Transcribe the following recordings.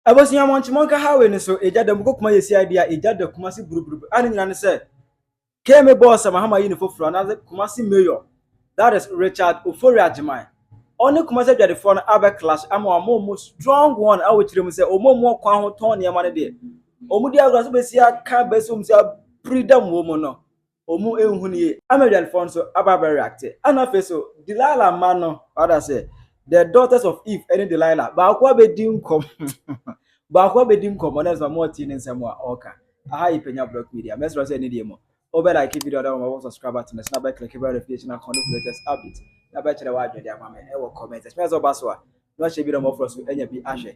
Abusua Monchi Monka Highway no so egya da mu kɔ Kumasi CID a egya da Kumasi buruburubu a ne nyinaa ne sɛ KMA bɔɔ sɛ Mahama yi ne foforo anaasɛ Kumasi Mayor that is Richard Ofori Agyemang ɔne Kumasi adwadefoɔ no abɛ clash ama wɔn wɔn mu strong one a wɔkyerɛ mu sɛ wɔn mu ɔkwan ho tɔn nneɛma no deɛ wɔn di agorɔ so bɛsi aka bɛsi wɔn si apiri dam wɔ mu no Ɔmo nhu no yie ama adwadifoɔ no so aba abɛ reacte ɛna afei so Delilah mma no wada ase the daughters of Eve ɛne Delilah baako abɛdi nkɔm baako abɛdi nkɔm ɔna ɛsɛ ɔmo ɔte ne nsɛm a ɔka aha yi pɛnya block media mɛsrɛ sɛ ɛne deɛ mu ɔbɛ like video na ɔmo subscribe button na ɛsɛ abɛ click bɛ notification akɔn no latest update na bɛkyerɛ w'adwene ama me ɛwɔ comment ɛsɛ sɛ ɔba so a na ɔhyɛ bi na ɔmɔfoɔ so ɛnya bi ahwɛ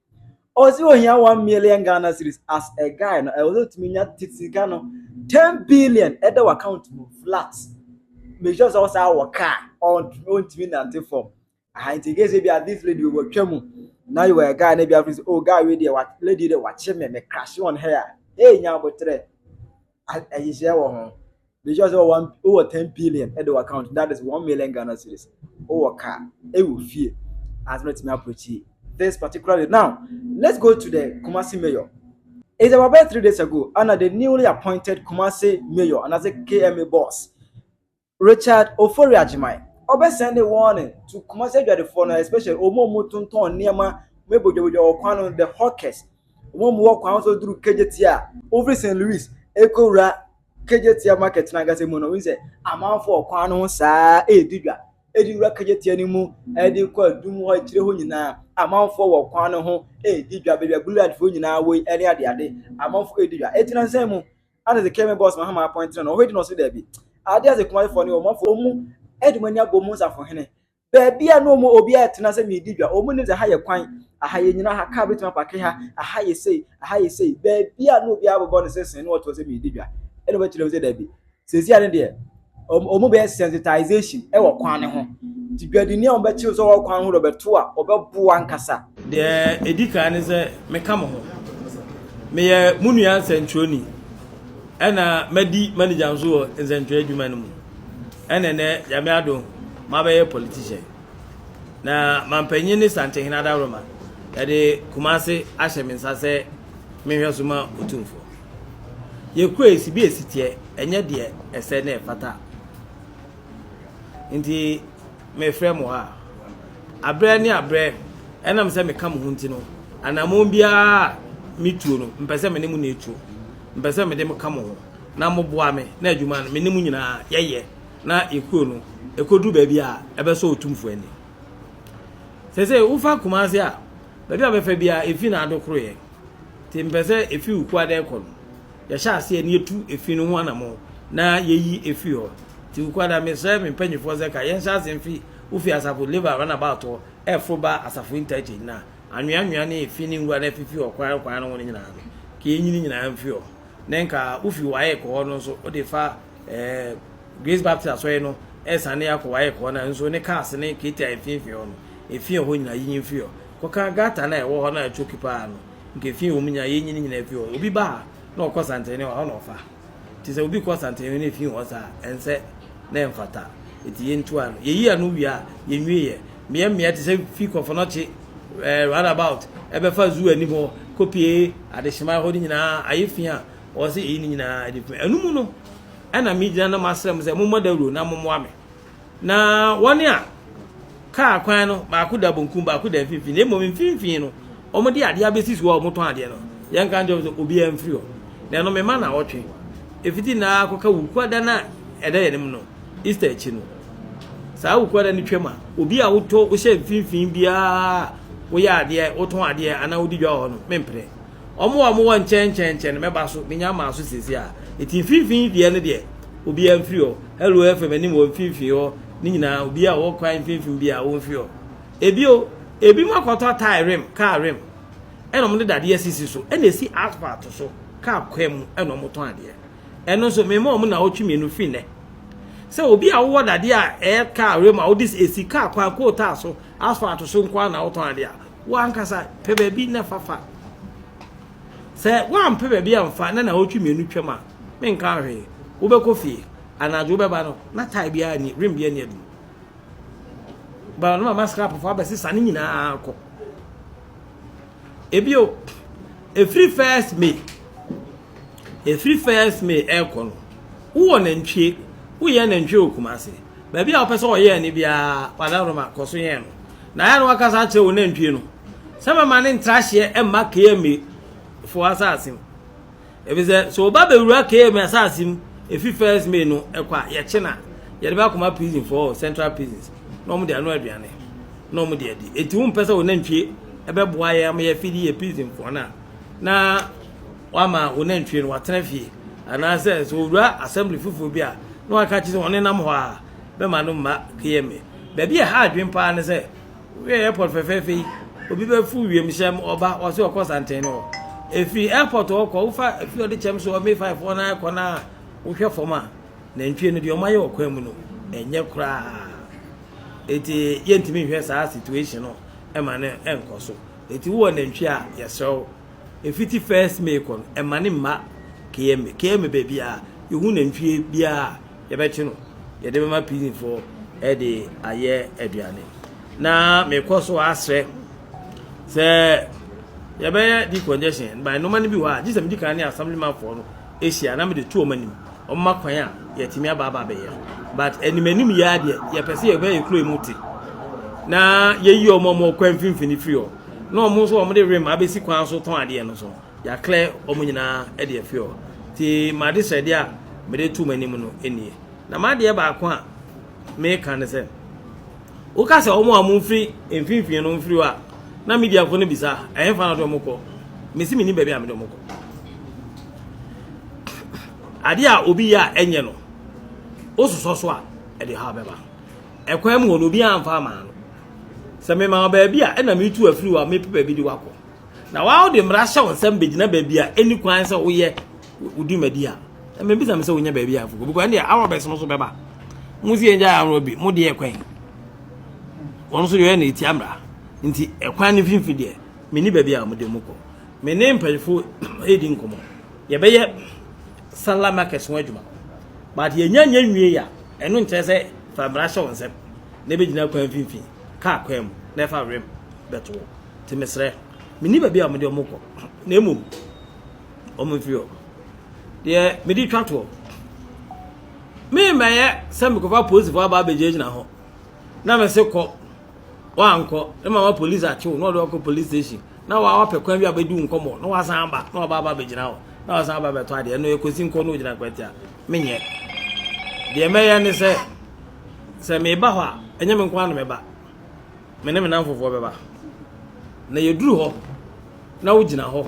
ɔsi ohia one million ghana series as a guy no ɛwɔ sɛ otumi nya titi sika no ten billion ɛda wɔ account mu flat make sure sɛ ɔsan wɔ car ɔntumi nante fam aha nti gye sɛ bi a this lady wɔ twa mu na yɛ wɔ a guy na bi afiri sɛ oh guy wei deɛ wa lady deɛ wakye me me crash on her a hey nya abotrɛ ayihyia wɔ ho be sure sɛ wɔn wɔ ten billion ɛde wɔ account that is one million ghana cedis wɔ car ɛwɔ fie asɛm ɛtumi approach this particularly now let's go to the kumasi mayor it's about bɛyɛ three days ago ana the newly appointed kumasi mayor anaasɛ kma boss Richard Ofori Agyemang, ɔbɛ sɛnde warning to Kumasi adwadifoɔ no especially ɔmo a ɔmo tontɔn nneɛma, ɔmo yɛ bodwabodwa wɔ kwan no, the hawkers, ɔmo a ɔmo wɔ kwan so duru Kejetia, ɔfiri St Louis ɛkɔ wura Kejetia market no ankasa mu no, wohu sɛ amanfoɔ wɔ kwan no ho saa ɛɛdi dwa, ɛdi wura Kejetia no mu, ɛde kɔ adum hɔ, akyire hɔ nyinaa, amanfoɔ wɔ kwan no ho ɛɛdi dwa, baabi a blue light foɔ nyinaa wɔ yi ɛne adeade, amanfoɔ ɛɛdi dwa, ɛti nansan mu. Ana dze kɛme boss mahama apɔntsena no, ɔhɔedi na ɔse dabi. Ade adze Kumase fɔɔ ne wɔ mɔfo ɔmu ɛde mɔni abɔ ɔmu nsafohene. Baabi a na ɔmu ɔbi ayɛ tena sɛ meedi dwa, ɔmu nim dze ha yɛ kwan, aha yɛ nyina ha, kaa betumi apake ha, aha yɛ sei, aha yɛ sei, baabi a na ɔbi abobɔ ne sesee na ɔtoɔ sɛ meedi dwa, ɛna ɔbɛkyerɛ mu sɛ dabi. Sesei a ne deɛ. wɔn bɛyɛ sensitization wɔ kwan no ho nti dwadini a wɔbɛkyerɛ sɛ ɔwɔ kwan ho na ɔbɛto a ɔbɛboa ankasa. deɛ ɛdi kan ne sɛ meka mo ho meyɛ mo nua nsɛntwerɛni ɛna madi manager nso wɔ nsɛntwerɛ adwuma no mu ɛna nɛ nyame ado mabɛyɛ politician na mampanyin ne santehene adaworoma yɛde kumase ahyɛ me nsa sɛ menhwɛ so ma ɔtumfoɔ Yɛ kura esi bi esi teɛ ɛnyɛ deɛ ɛsɛ na ɛfata nti mefrɛ mo ha abrɛ ne abrɛ ɛnam sɛ meka mo ho nti no anamon biara metuo no mpɛ sɛ me ne mo na etuo mpɛ sɛ mede mo ka mo ho na mo boa me na adwuma no me ne mo nyinaa yɛyɛ na ekuro no ɛkɔduru baabi a ɛbɛsɔ otumfoɔ ani sɛ sɛ wofa kumase a Baabi a ɔbɛfa biara, efi na adokoroeɛ. Nti mepɛ sɛ efi wo kuada rekɔ no, yɛhyɛ aseɛ na yɛtu efi no ho anammɔn na yɛyi efiri hɔ. Nti wo kuada, mesrɛ me mpanimfoɔ sɛ ka yɛnhyɛ aseɛ mfi wo fie asafo Levi Runabout hɔ reforo ba asafo Interchange na anweanwea ne efi ne nwura no afifi ɔkwan kwan no ho no nyinaa no, ka yɛnyi ne nyinaa mfiri hɔ. Ne nka wofi WAEC hɔ no nso, wode fa Ɛɛ Grace Baptist Asɔre no ɛsan ne akɔ wayɛ kɔɔ na nso ne cars ne kete a mfimfini hɔ no efi ɛhɔ nyinaa yinyin firi hɔ kɔka gata na ɛwɔ hɔ na ɛtwoki paa no nka efi wɔn nyinaa yɛnyi ne nyinaa firi hɔ obi ba ha na ɔkɔ santene hɔ na ɔfa ti sɛ obi kɔ santene na efi hɔ saa ɛnsɛ na ɛmfata eti yɛntu ano yɛyi ano wie a yɛnwie yɛ mmea mmea ti sɛ fi kɔfɔnɔkye ɛɛ roundabout ɛbɛfa zoo anim hɔ kopie adehyema hɔ no nyinaa ayɛ fi a Ɔse eyi no nyinaa de pɛ. Ɛno mu no, ɛna megyina na masrɛ mo sɛ mommɔ dawuro na mommoa me. Na wɔn a kaa kwan no baako da bonkum baako da mfimfini na mmom mfimfini no wɔde adeɛ abɛsi so a wɔtɔn adeɛ no yɛnka nkyɛn sɛ obiara mfiri hɔ na ɛno mema na ɔtwe ɛfiti na akɔka wukuada no a ɛda yɛn anim no Easter akyi no saa wukuada no twam a obi a wotɔ wohyɛ mfimfini biara woyɛ adeɛ wotɔn adeɛ anaa wodi dwa wɔ hɔ no memprɛ Wɔn a wɔwɔ nkyɛnkyɛnkyɛn no, mɛba so, menya ama so seesei ara. Enti mfimfini deɛ no deɛ, obiara mfiri hɔ. Hello FM anim wɔ mfimfini hɔ no nyinaa, obiara a ɔwɔ kwan mfimfini biara, ɔmfiri hɔ. Bio, ebinom akɔtɔ tae rim, kaa rim, ɛna wɔde dadeɛ asisi so, ɛna ɛsi asphalt so, kaa kwan mu na wɔtɔn adeɛ. Ɛno nso, mema wɔn nnawɔtwe mmienu firi nnɛ. Sɛ obi a wowɔ dadeɛ a ɛyɛ kaa rim a wode si kaa kwan, coal tar so, asphalt so nko ara na wotɔn adeɛ a, Wo ankasa pɛ baabi na fa fa. Sɛ woampɛ baabi amfa na naawɔtwe mmienu twam a, menka hwee. Wobɛkɔ fie. Anadwo wobɛba no, na tae biara nni, rim biara nni adum. Ba no mama skrapfoɔ abɛsesa ne nyinaa kɔ. Ebio, ɛfiri first May Ɛfiri first May ɛrekɔ no, wowɔ nantwie, woyɛn nantwie wɔ Kumasi, baabi a wopɛ sɛ wɔyɛn no biara, Kwada Nkrumah, kɔ so yɛn no. Na ɛyɛ a na woakasa akyerɛ wo nantwie no sɛ mɛma no ntra hyeɛ mma KMA foɔ asase mu. Ɛfisɛ sɛ ɔba bɛwura KMA asase mu ɛfiri first May no ɛkɔ a, yɛkye no a, yɛde bɛakɔma prison foɔ wɔ central prisons na wɔn de ano aduane na wɔn de adi. Enti wompɛ sɛ wo nantwie ɛbɛboa yɛn ama yɛafidi yɛ prison foɔ no a. na wɔama wo nantwie no wɔatena fie, anaasɛ sɛ ɔwura assembly foforɔ bi a, na wɔaka akyerɛ sɛ ɔnenam hɔ a, bɛma no mma KMA. Baabi a ɛha adwene paa ne sɛ, woyɛ airport fɛfɛɛfɛ yi, obi bɛforo wiemhyɛn mu ɔba, ɔse ɔkɔ Santen no hɔ. Ɛfiri airport hɔ kɔ, wofa afiri ɔde kyɛm so ɔme five hɔ na kɔ na wohwɛ fam a, nantwie no deɛ ɔmayɛ wɔ kwan mu no, ɛnyɛ koraa. Eti yɛntumi nhwɛ saa situation no ɛma no ɛnkɔ so. Enti wowɔ nantwi a, yɛsrɛ wo, ɛfiti first May kɔ no, ɛma ne mma KMA. KMA baabi a yɛhu nantwie biara a, yɛbɛkye no, yɛde bɛma PZfoɔ de ayɛ aduane. Na mekɔ so asrɛ sɛ yɛbɛyɛ decongestion, by nnoɔma no bi wɔ hɔ a, gye sɛ medi kan ne assemblymanfoɔ no hyia na mede to wɔn anim wɔn ma kwan a yɛatumi aba aba abɛyɛ but anim anim yɛ adeɛ yɛpɛ sɛ yɛbɛ yɛ kuro mu te na yɛyi wɔn a wɔn kwan mfimfini firi hɔ na wɔn nso wɔn de rem abɛsi kwan so tɔn adeɛ no so yɛaklɛ wɔn nyinaa de afiri hɔ ti ma de srɛdeɛ a mede to wɔn anim no nie na ma adeɛ baako a meka ne sɛ Woka sɛ wɔn a wɔfi mfinimfini no mfiri hɔ a, na Midianfo no bisa, Ɛhefa na wɔde wɔn kɔ? Mese minnim baabi a mede wɔn kɔ. Ade a obi yɛ a ɛnyɛ no, wososɔ so a, ɛde haw bɛba. Ɛkwan mu hɔ no, obiara mfa mmaa no. Sɛ mema wo baabi a, ɛna metu afiri hɔ a, mepɛ baabi de wo akɔ. Na wɔn a wode mmara hyɛ wo nsam begyina baabi a enni kwan sɛ woyɛ wo dwumadi a ɛmɛ bisa me sɛ wonya baabi a afuko because ɛnna awa bɛs no so bɛba mo si ɛngya awa bi mo deɛ kwan wɔn nso yɛ na eti amra nti ɛkwan ne finfin deɛ me ni baabi a mo de mo kɔ me ne mpanyinfo edi nkɔmɔ yɛbɛyɛ sala market ho adwuma but yɛnya nya nwie ya ɛno nkyerɛ sɛ fa mmara hyɛ wɔn nsam na ebe gyina kwan finfin kaa kwan mu na ɛfa wɛm bɛto te mesrɛ me ni baabi a mo de mo kɔ na emu Wɔmfiri hɔ. Deɛ mede retwa toɔ, meremmɛyɛ sɛ mekɔfa polisifoɔ aba abɛgyinagyina hɔ na mese kɔ, woankɔ na mama polisi akye wo na ɔde wakɔ polisi station na wapɛ kwan bi a bɛdi wo nkɔmmɔ na wasan aba na waba aba abɛgyina hɔ na wasan aba abɛtɔ adeɛ ɛno yɛ kɔsi nkɔ na ɔgyina kwati a menyɛ deɛ mɛyɛ ne sɛ sɛ meba hɔ a ɛnyɛ me nko ara na mɛba Me ne me nnamfofoɔ bɛba, na yɛduru hɔ na wogyina hɔ,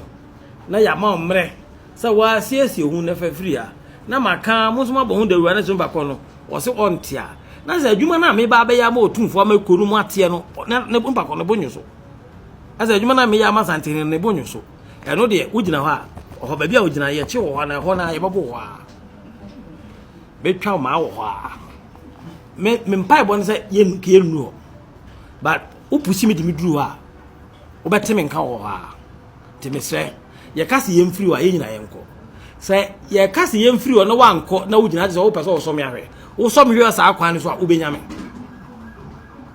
na yɛama wo mmerɛ sɛ woasiesie wo ho na fa firi ha, na maka mo nso moabɔ ho dawuro anadwo mfa kɔ no, ɔse ɔnte a, na sɛ adwuma no a meba abɛyɛ ama Otumfoɔ ama kuro no mu ateɛ no, ne mfa kɔ no bo nwo so. Na sɛ adwuma no a meyɛ ama Santene no ne bo nwo so, ɛno deɛ wogyina hɔ a, ɔhɔ baabi a wogyina yɛkye wɔ hɔ na ɛhɔ no a yɛbɛbo hɔ a, bɛtwa maa wɔ hɔ a. me me mpaebɔ no sɛ yɛn yɛn nnu hɔ but wopusi me de me duru hɔ a wobɛte me nka wɔ hɔ a te mesrɛ yɛka se yɛn firi hɔ a yɛn nyinaa yɛn kɔ sɛ yɛka se yɛn firi hɔ na wankɔ na wogyina te sɛ wopɛ sɛ wɔsɔ me ahwɛ wosɔ me hwɛ saa kwan no so a wobɛnya me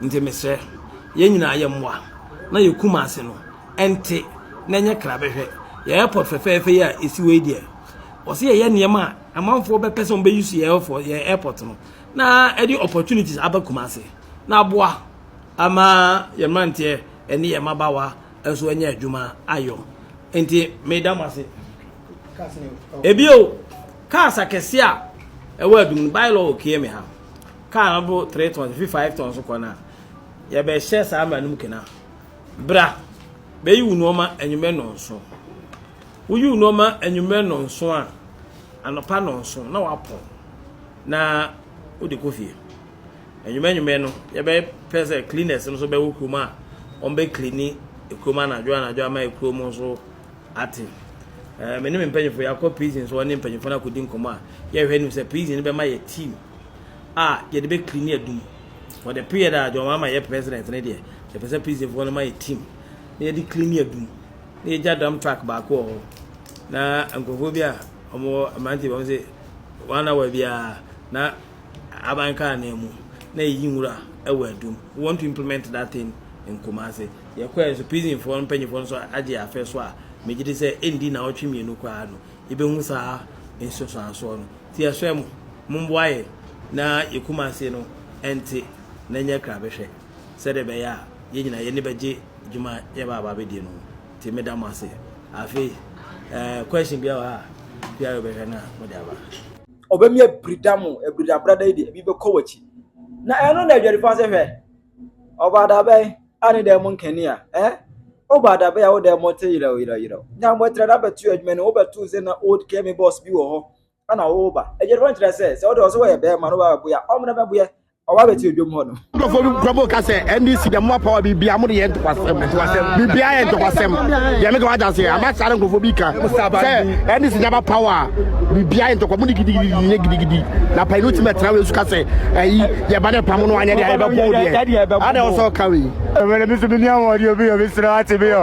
nti mesrɛ yɛn nyinaa yɛn mmoa na yɛkum ase no ɛnte na ɛnyɛ kra bɛhwɛ yɛ airport fɛfɛɛfɛ yi a ɛsi wei deɛ ɔsɛ yɛyɛ nneɛma a amanfoɔ bɛpɛ sɛ wɔbɛyi so yɛ airport no na ɛde opportunities aba Kumasi na aboa ama yɛn mmeranteɛ ne yɛn mmabaawa nso anya adwuma ayɔ. Nti meda mo ase. Ebio, cars akɛseɛ a ɛwɔ adum no, bylaw wɔ KM ha. Car no bo 3 tons, fi 5 tons kɔ no a, yɛbɛhyɛ saa mmara no mu kena. Bra, bɛyi wo nneɛma anwummerɛ nnɔnso. Woyi wo nneɛma anwummerɛ nnɔnso a, anɔpa nnɔnso na wapɔn. na wode kɔ fie. Anwummerɛ anwummerɛ no, yɛbɛpɛ sɛ cleaners no nso bɛwɔ kurom a wɔbɛcleani kurom anadwo anadwo ama kurom nso ate. Eh, me ne me mpanyinfoɔ yɛakɔ prison so ɔne mpanyinfoɔ no akɔdi nkɔmmɔ a yɛhwɛ anim sɛ prison no bɛma yɛ team a yɛde bɛcleani adum for the period a John Mahama yɛ president no deɛ yɛpɛ sɛ prisonfoɔ no ma yɛ team na yɛde cleani adum na yɛgya dam truck baako wɔ hɔ na nkurɔfoɔ bi a wɔwɔ mmeranteɛ bi wɔn sɛ One hour biara na aban kaa nan mu na eyi nwura wɔ adum. We want to implement that thing in Kumasi. Yɛkɔɛ nso prison foɔ mpanyinfoɔ nso agye afɛ so a megye di sɛ ɛndi na ɔtwe mmienu koraa no yɛbɛhu saa nsusuansoɔ no. Ti yɛsrɛ mo momboa yɛn na yɛ Kumasi no ɛnte na ɛnyɛ krabɛhwɛ sɛdeɛ ɛbɛyɛ a yɛn nyinaa yɛn ani bɛgye dwuma yɛba aba abɛdie no ho. Nti me da mo ase. Afei eh, question biara wɔ ha a, biara yɛbɛhwɛ na mo de aba. Ɔbɛmi abirida mo, abirida brada yi deɛ, ebi bɛkɔ w'akyi. Na ɛno na adwadifoɔ ase hwɛ. Ɔbaa da bɛn, a ne dan mu nkani a, eh? Ɔbaa da bɛn a wo dan mu te yerɛw yerɛw yerɛw. Nyambɔtrɛ da bɛto adwuma ni, wobɛto sɛ na old kemi boss bi wɔ hɔ. ɛna wo ba ɛgye no nkyerɛ sɛ sɛ wode ɔsɛ wɔyɛ bɛrima no bɛbɛbo yɛ ɔmena bɛbo yɛ ɔba bɛti odwom hɔ no nkurɔfoɔ bi nkurɔfoɔ ka sɛ ndc deɛ mo apa wa biribiara mo de yɛ ntokwasɛm biribiara yɛ ntokwasɛm deɛ meka wagya se ama saa na nkurɔfoɔ bi ka sɛ ndc deɛ bapa wa biribiara yɛ ntokwa mo de gidigidi yɛ gidigidi na pa no tumi ɛtena wei so ka sɛ ayi deɛ ba ne pa mo no anyɛ deɛ ɛbɛbɔ deɛ ada ɔsɛ ɔka wei ɛmɛrɛ bi so bi ni ahoɔden obi yɛ bi srɛ ate bi yɔ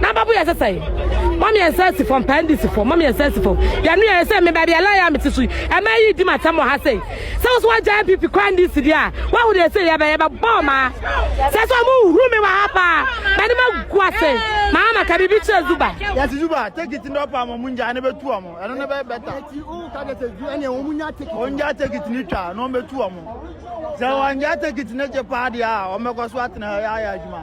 Na babu yɛ sɛsɛe. Mami yɛ nsa si fam, paa ndi si fam, mami yɛ nsa si fam. Yɛ nua yɛ sɛ me baabi a lɔya a mete so yi, ɛma yi di m'atɛm wɔ ha sei. Sɛ wo so wagya NPP kɔ NDC deɛ a, woahu deɛ sei yɛbɛ yɛbɛ bɔɔ maa. Sɛ sɛ ɔmo huru me wɔ ha paa, mani ma gu ase. Maa ma ka biribi kyerɛ Zuba. Yɛse Zuba, take it no ɔpɛ ɔmo ɔmo ngyae no bɛtu ɔmo, ɛno no bɛyɛ better. Eti wo ka deɛ sɛ zu ɛneɛ ɔmo nya take it. Ɔmo ngyae take it no twa na ɔmo bɛtu ɔmo. Sɛ wɔn ngyae take it no gye paa deɛ a, ɔmo bɛkɔ so atena ha yɛ ayɛ adwuma.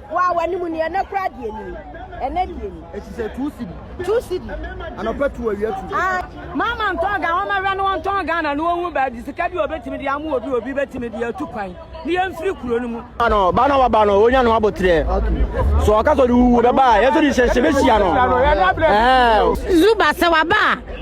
Wo a w'anim ni, ɛnɛ koraa deɛ ni, ɛnɛ deɛ ni. Eti sɛ two cedi. Two cedi. Anɔpa tu awia tu. Ah. Mama ntɔn Ghana, wɔn awɛ no wɔn ntɔn Ghana no wɔn hu baabi sika bi a obetumi de amu obi obi betumi de atu kwan ne yɛn firi kuro no mu. Ba no, ba no waba no, onya no abotrɛ. So ɔka sɛ ɔde wuwu bɛba a, yɛn nso de hyɛhyɛ bɛhyia no. Ɛɛ. Zuba sɛ waba a.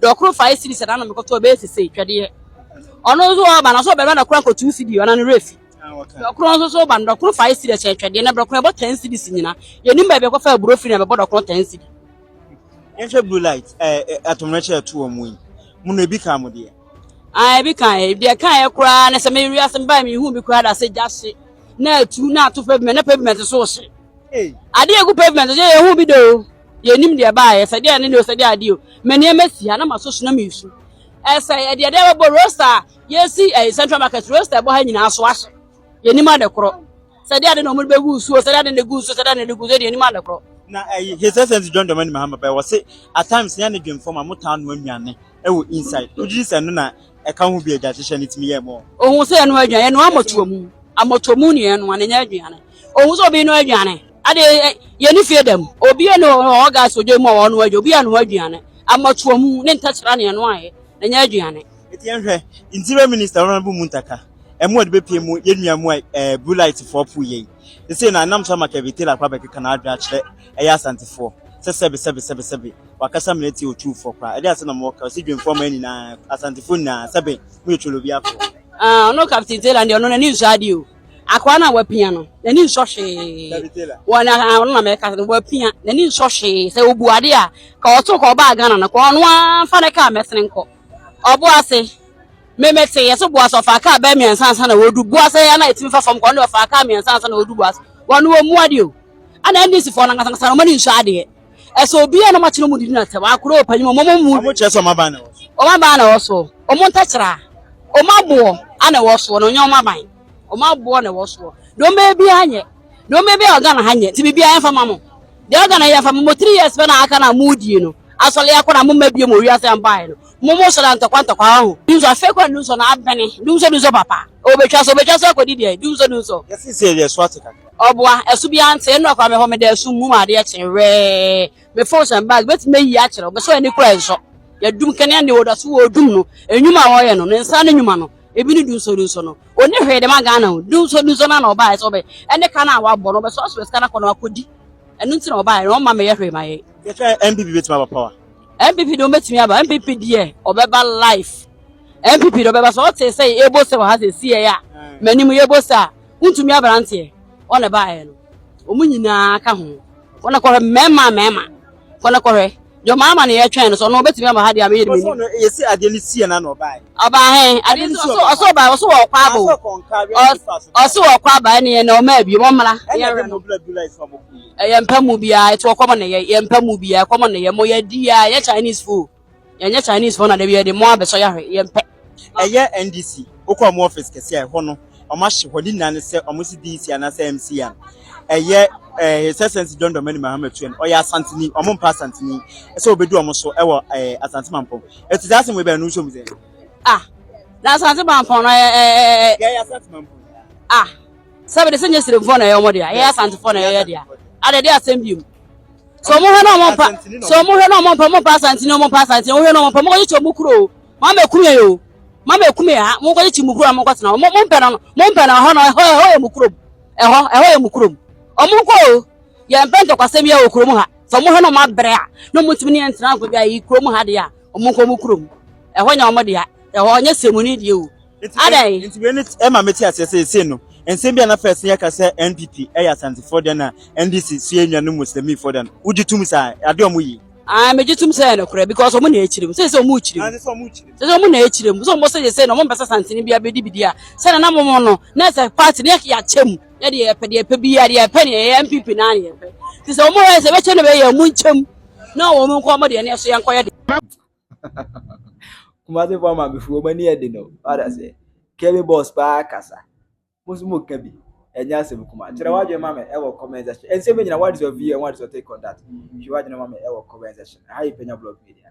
Dɔ koro five cities ɛna na mekɔtɔ ɛbɛyɛ sese twɛdeɛ ɔno nso ɔba na so ɔbɛma na kora nkɔ two cities ɔna ne refi dɔ koro nso so ɔba no dɔ koro five cities ɛkyɛ twɛdeɛ na dɔ koro ɛbɔ ten cities nyina yɛnim baabi ɛkɔfa aburo firi na ɛbɛbɔ dɔ koro ten cities yɛnhwɛ blue light atommerɛkyɛ ɛto wɔ mu yi mu no ebi ka mo deɛ ah ebi ka ɛ deɛ ka ɛ koraa na sɛ mewia sɛ mebaa mehu bi koraa da sɛ gya hye na atu na ato pavement na pavement so hye ade a egu pavement so yɛ hu bi do o yɛnim deɛ baayɛ sɛ deɛ ne ne o sɛ deɛ adeɛ o mania masi ha na maso so na mesu ɛsɛ ɛdeɛ deɛ bɛbɔ rosta yɛsi ɛyɛ central market rosta ɛbɔ ha nyinaa so ahyɛ yɛnim ade korɔ sɛ deɛ ade na ɔmo bɛgu nsuo sɛ deɛ ade na gu nsuo sɛ deɛ ade na gu nsuo deɛ yɛnim ade korɔ na ɛyɛ his essence john dɔmani mahama pɛ wɔ se at times yɛn ne dwemfo ma motaa no anuane ɛwɔ inside wogye sɛ no na ɛka ho bi agya hyehyɛ ne tumi yɛ mo ohun sɛ ɛno aduane ɛno amɔtoɔ mu amɔtoɔ mu ne ɛno anenya aduane Ohun sɛ obi no aduane. Ade yɛne fie dam. Obi ne ɔwɔ gas odwa mu a ɔno adwa. Obi anoa aduane. Amatoa mu ne ntakyera ne ɛnoaeɛ na ɛnyɛ aduane. Enti yɛnhwɛ, Interior Minister Honourable Muntaka Amuah de bɛpue mu yɛn nua mu a ɛɛ Blue Light foɔ poo yɛn yi. Seesei no ɛnam so ama Kevin Taylor akɔ abɛkeka n'adwene akyerɛ ɛyɛ Asantefoɔ sɛ sɛbe sɛbe sɛbe sɛbe wakasa mene te Otuufoɔ koraa. Ɛdeɛn asɛm na mowɔ ka? Ɔse Dwemfoɔ man nyinaa, Asantefoɔ nyinaa sɛbe moyɛ Twolobiafoɔ. Ah ɔno Captain Taylor deɛ ɔno n'ani nsɔ adeɛ o. Akwaa no a wapia no, n'ani nsɔ hwee. Wɔ na ah, ɔno na mɛka sɛ wapia, n'ani nsɔ hwee. Sɛ obu ade a, ka ɔto ka ɔbaa Ghana no, ka ɔno amfa ne kaa mɛsene nkɔ. Ɔbo ase, memete yɛ so bo ase ɔfaa kaa bɛɛ mmiɛnsa ansa na wɔdu bo ase yɛ na ɛtumi fa fam kɔ, ɔno ɔfaa kaa mmiɛnsa ansa na wɔdu bo ase. Wɔn wɔ mu ade o. Ana NDC foɔ no ankasa ankasa na wɔn ani nsɔ adeɛ. ɛsɛ obi a na wɔakyerɛ mu didi na sɛ wɔakora ɔpanyin mu wɔn mu wɔn kyerɛ sɛ wɔn aban na ɛwɔ so wɔn aban na ɛwɔ so wɔn ntɛkyerɛ a wɔn aboɔ ana ɛwɔ soɔ na ɔnyɛ wɔn aban wɔn aboɔ na ɛwɔ soɔ deɛ wɔn bɛyɛ biara nyɛ deɛ wɔn bɛyɛ biara ɔga na ha nyɛ ti biribiara yɛn fa ma mo deɛ ɔga na yɛn fa ma mo three years bɛ na aka na mo die no asɔre akɔ na mo mma bie mo wiase yɛn baa yɛn no mo mo sɔrɔ ntɔkwa ntɔkwa ho dunso afei kɔ dunso na abɛne dunso dunso papa obetwa so obetwa so akɔdi deɛ dunso dunso. yɛsi sɛ yɛ so ate kakra. Ɔboa, ɛso biara nte, nnora koraa mehɔ meda ɛso mum a adeɛ kye wɛɛ, me phone hyɛ me bag mɛtumi ayi akyerɛ wo, mesɔ ani kura nsɔ, yɛdum kanea ne wɔda so wɔdum no, nnwuma a wɔyɛ no, ne nsa ano nnwuma no, ebi ne dunso dunso no, ɔnni hwee dema Ghana o, dunso dunso no ara na ɔbaeɛ sɛ ɔbɛ ɛne ka no a wabɔ no, ɔbɛsɔ sɔ sika no akɔ na wakɔdi, ɛno nti na ɔbaeɛ, na ɔmma meyɛ hwee ma yɛn. Yɛka NPP bɛtumi aba power? NPP deɛ ɔbɛtumi aba, NPP deɛ ɔbɛba life, NPP deɛ ɔbɛba, sɛ ɔtee sɛ yɛbɔ sɛ wɔ ha sɛ si yɛn a, m'anim yɛbɔ sɛ a, Wontumi aberanteɛ ɔ na ɛbaeɛ no, wɔn nyinaa ka ho. Kɔ na kɔhwɛ mmarima mmarima. Kɔ na kɔhwɛ. Deɛ ɔmaa ama no yɛtwɛn no sɛ ɔno ɔbɛtumi aba ha deɛ a meyɛ de m'ani. Ɔsɔ no yɛsi adeɛ no sie na na ɔbaeɛ. Ɔbaa he? Adeɛ no so ɔsɔ ɔbaa ɔsɔ wɔ ɔkɔ aba o. Ɔsɔ wɔ ɔkɔ aba ɛne yɛn na ɔma abie wɔn mmra. Ɛna ɛde mo bla dula ɛsɛ ɔmo kɔ. Ɛyɛ mpa mu biara ɛte ɔkɔm na yɛ yɛ mpa mu biara ɛkɔm na yɛ mo yɛ di ya yɛ Chinese food. Yɛnyɛ Chinese foɔ na da biara de mo abɛsɔ yahwɛ yɛmpɛ. Ɛyɛ NDC wokɔ ɔmo office kɛse a ɛhɔ no ɔmo ahye hɔ ne nyinaa ne sɛ ɔmo se DC anaasɛ MC a ɛyɛ eh, His Excellency John Dramani Mahama Tuan ɔyɛ Asanteni ɔmo mpa Asanteni sɛ obedu ɔmo so ɛwɔ eh, Asante Mampɔn eti saa asɛm wei bɛn no nso mu sɛ Ah, na Asante Mampɔn no ɛɛ eh, ɛɛ eh, eh, yɛyɛ Asante Mampɔn ah, sɛbi de sɛ nyɛ siremfoɔ na ɛyɛ ɔmo dea, ɛyɛ Asantefoɔ na ɛyɛ dea, adɛ de asɛm biom. sɛ ɔmo hwɛ na ɔmo mpa sɛ ɔmo hwɛ na ɔmo mpa ɔmo mpa asantene ɔmo mpa asantene ɔmo hwɛ na ɔmo mpa ɔmo kɔgye kyɛ ɔmo kuro o mo ama ekumi yɛ o mo ama ekumi yɛ ha mo kɔgye kyɛ mo kuro na mo kɔtena hɔ mo mo mpɛ na no mo mpɛ na hɔ na ɛhɔ ɛhɔ yɛ mo kurom ɛhɔ ɛhɔ yɛ mo kurom ɔmo nkɔ o yɛn mpɛ ntɔkwasɛm yɛ wɔ kurom ha sɛ ɔmo hwɛ na ɔmo abrɛ a na ɔmo ntumi ne yɛn ntena nkɔ bi a yi kurom ha deɛ a ɔmo nkɔ ɔmo kurom ɛhɔ nyɛ ɔmo deɛ ɛhɔ nyɛ sɛmuni deɛ o adɛn nti wei ne ɛma mete aseɛ sɛ ɛsei no nsɛm bi a na fɛ ɛsɛ yɛka sɛ npp ɛyɛ asantefoɔ deɛ na ndc so yɛ nnuanom muslimifoɔ deɛ no wogye tom saa adeɛ ɔmo yi Ah, megye tom sɛ ɛyɛ nokorɛ because ɔmo na ɛkyerɛ mu sɛ sɛ ɔmo kyerɛ mu sɛ sɛ ɔmo na ɛkyerɛ mu sɛ ɔmo sɛ yɛsɛ na ɔmo mpɛsɛ santene bi abɛdi bidi a sɛ nana mo no na ɛsɛ party na yɛakyɛ mu na deɛ yɛpɛ deɛ yɛpɛ bi a deɛ yɛpɛ ne ɛyɛ npp na ne yɛpɛ nti sɛ ɔmo hɔ sɛ bɛkyɛ no bɛyɛ ɔmo nkyɛm na ɔmo nkɔ ɔmo deɛ ne ɛso yɛnkɔyɛ deɛ Kumasi fɔ ama befo wɔn ani ɛde no wada sɛ kɛmi bɔs paa kasa mo nso mo ka bi ɛnyɛ asɛm kuma kyerɛ wadwe ma mi ɛwɔ comment section ɛnsɛm mi nyina what is your view and what is your take on that hwɛ wadwe ma mi ɛwɔ comment section ɛha yɛ pɛnya blog media